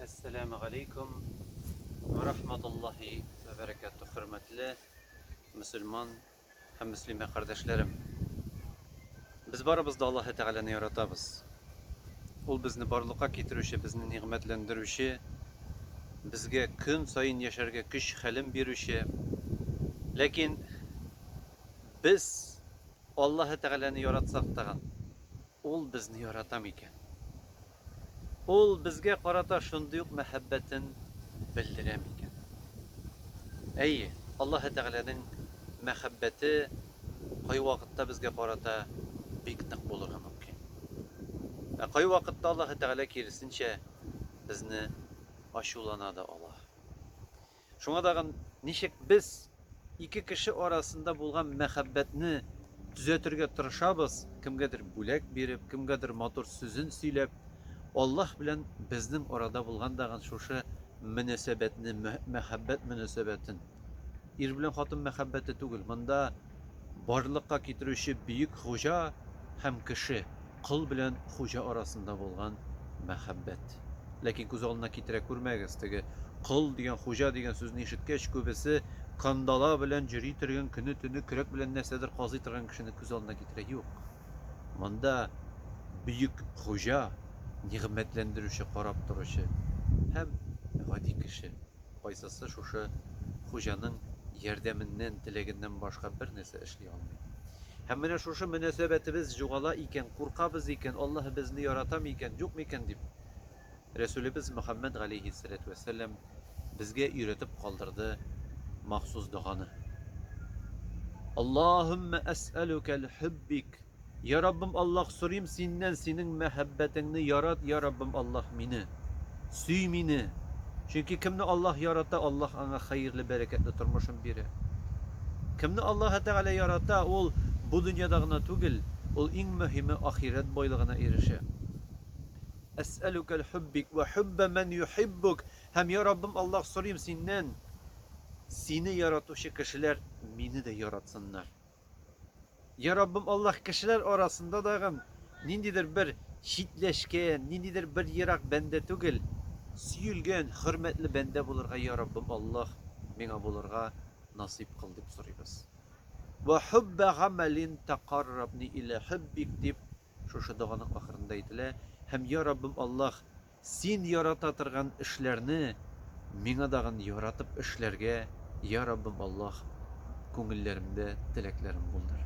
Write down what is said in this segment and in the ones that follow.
Әссәләмү галәйкүм вә рахматуллаһи вә бәрәкәтүһ, хөрмәтле мөселман һәм мөслимә кардәшләрем! Без барыбыз да Аллаһы Тәгаләне яратабыз. Ул безне барлыкка китерүче, безне нигъмәтләндерүче, безгә көн саен яшәргә көч-хәлем бирүче. Ләкин без Аллаһы Тәгаләне яратсак тагын, Ул безне ярата микән? Ул безгә карата шундый ук мәхәббәтен белдерә микән? Әйе, Аллаһы Тәгаләнең мәхәббәте кайвакытта безгә карата бик нык булырга мөмкин. Ә кайвакытта Аллаһы Тәгалә киресенчә безне ачулана да ала. Шуңа тагын ничек без ике кеше арасында булган мәхәббәтне төзәтергә тырышабыз, кемгәдер бүләк биреп, кемгәдер матур сүзен сөйләп, Аллаһ белән безнең арада булган тагын шушы мөнәсәбәтне, мәхәббәт мөнәсәбәтен. Ир белән хатын мәхәббәте түгел, монда. Барлыкка китерүче бөек хуҗа һәм кеше, кол белән хуҗа арасында булган мәхәббәт. Ләкин күз алдына китерә күрмәгез, теге кол дигән, хуҗа дигән сүзне ишеткәч, күбесе кандала белән җөри торган, көне-төне көрәк белән нәрсәдер казый торган кешене күз алдына китерә. Юк. Монда бөек хуҗа, нигъмәтләндерүче, карап торучы һәм гади кеше. Кайсысы шушы хуҗаның ярдәменнән, теләгеннән башка бернәрсә эшли алмый? Һәм менә шушы мөнәсәбәтебез җугала икән, куркабыз икән, Аллаһ безне ярата микән, юк микән дип, Рәсүлебез Мөхәммәд галәйһиссәләтү вәссәлам безгә өйрәтеп калдырды махсус доганы. Аллаһуммә әсәлүкәл һүббик Я Раббым Аллаһ сорыйм синнән синең мәхәббәтеңне ярат я Раббым Аллаһ мине сөй мине чөнки кемне Аллаһ ярата Аллаһ аңа хәерле бәрәкәтле тормышын бирә кемне Аллаһы тәгалә ярата ул бу дөньяда гына түгел ул иң мөһиме ахирәт байлыгына ирешә Әсәлүкәл хуббик вә хубба мән юхиббук һәм я Раббым Аллаһ сорыйм синнән сине яратучы кешеләр мине дә яратсыннар. Я Раббым Аллаһ, кешеләр арасында дагын ниндидер бер читләшкән, ниндидер бер ерак бәндә түгел, сөелгән, хөрмәтле бәндә булырга, я Раббым Аллаһ, миңа булырга насыйп кыл, дип сорыйбыз. Вә хуббә гамәлин тәкаррабни илә хуббик, дип шушы доганың ахырында әйтелә. Һәм, я Раббым Аллаһ, Син ярата торган эшләрне миңа дагын яратып эшләргә, йа Раббым Аллаһ, күңелләремдә теләкләрен булдыр.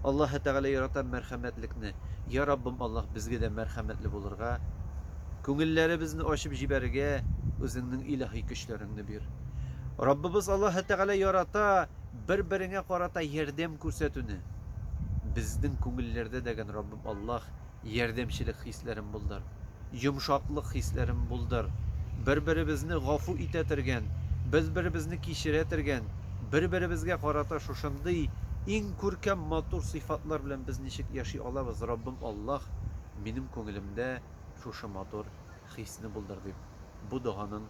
Аллаһы Тәгалә ярата мәрхәмәтлекне, йа Раббым Аллаһ, безгә дә мәрхәмәтле булырга, күңелләребезне ачып җибәрергә Үзеңнең илаһи көчләреңне бир. Раббыбыз Аллаһы Тәгалә ярата бер-береңә карата ярдәм күрсәтүне. Безнең күңелләрдә дәген Раббым Аллаһ, Ярдәмчелек хисләрен булдыр. Йомшаклык хисләрен булдыр. Бер-беребезне гафу итә тергән, бер-беребезне кичерә тергән, бер-беребезгә карата шушындый иң күркәм, матур сыйфатлар белән без ничек яши алабыз, Раббым Аллаһ, минем күңелемдә шушы матур хисне булдыр, дип, бу доганың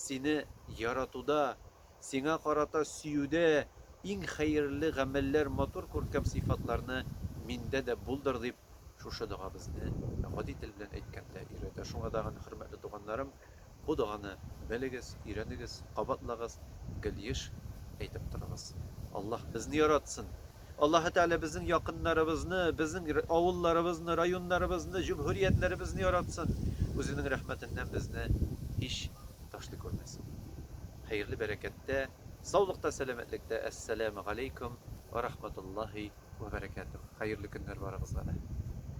Сине яратуда, сиңа карата сөюдә иң хәерле гамәлләр, матур күркәм сыйфатларны миндә дә булдыр, дип, шушы дога безне, гади тел белән әйткәндә, өйрәтә. Шуңа тагын, хөрмәтле туганнарым, бу доганы белегез, өйрәнегез, кабатлагыз, гел еш әйтеп торыгыз. Аллаһ безне яратсын! Аллаһы Тәгалә безнең якыннарыбызны, безнең авылларыбызны, районнарыбызны, җөмһүриятләребезне яратсын, Үзенең рәхмәтеннән безне һич ташлый күрмәсен. Хәерле бәрәкәттә, саулыкта, сәламәтлектә, Әссәләмү галәйкүм вә рахматуллаһи вә бәрәкәтүһ. Хәерле көннәр барыгызга да.